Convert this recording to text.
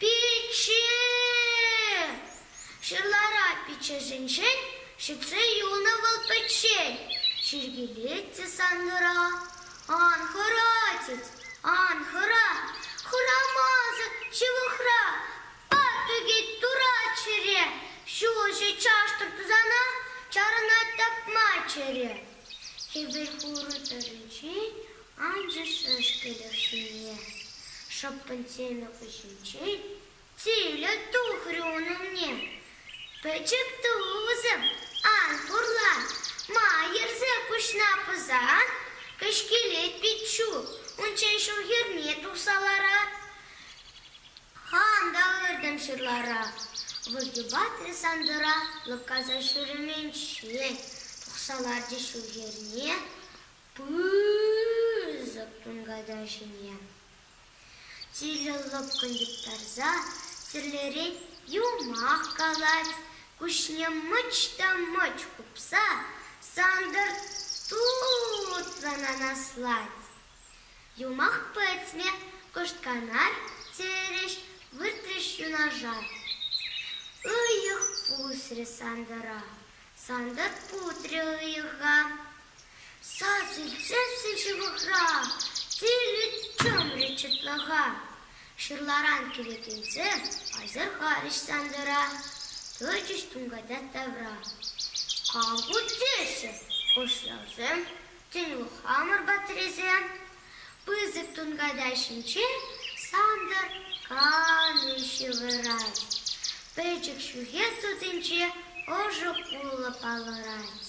Пичче! Ҫырлара пиччӗшӗнчен ҫӗтсе юлнӑ вӑл пӗччен. Чиркӗвет те сангӑра ан хӑратьӑр, ан хӑра, Хӑрамасӑр ҫывӑхра патӑкӗ турат чӗре. Ҫулҫӑ чаштӑр тусана чарӑнать тапма чӗре. Хӗвел хурӑ тӑрринчен Анчӑшь ӗҫкӗлӗх ҫумне шӑппӑн сенӗ хыҫӗнчен тилӗ тухрӗ ун умне. Пӗчӗк тусӑм, ан пурла, ма йӗрсе куҫна пӑсан? кӗҫкелет пиччу, унччен ҫул хӗрне тухса ларат. Хам та ыртӑм ҫырлара, выртӳпатрӗ Сантӑра лӑпкаса ҫӳременччен тухса ларчӗ ҫул хӗрне. пысӑк тунката ҫине тилӗ лӑпкӑн йӑптарса тӗрлерен юмах калать, куҫне мӑч та мӑч хупса Сантӑр тутлӑн анаслать. Юмах пӗтме кӑштканар терӗҫ, выртрӗҫ юнашар. Ыйӑх пусрӗ Сантӑра, Сантӑр путрӗ ыйӑха, сасӑччӗ ҫывӑхра тилӗ чӑмрӗ чӑтлӑха. Ҫырларан килекенсе асӑрхарӗҫ Сантӑра, тӑчӗҫ тунката тавра. Ав ку теҫҫӗ хӑшлавсем, тен, хамӑр патресем? Пысӑк тунката ҫинче Сантӑр калӗ ҫывӑрать, пӗчӗк ҫӳхе сутинче ӑшӑ кулӑ палӑрать.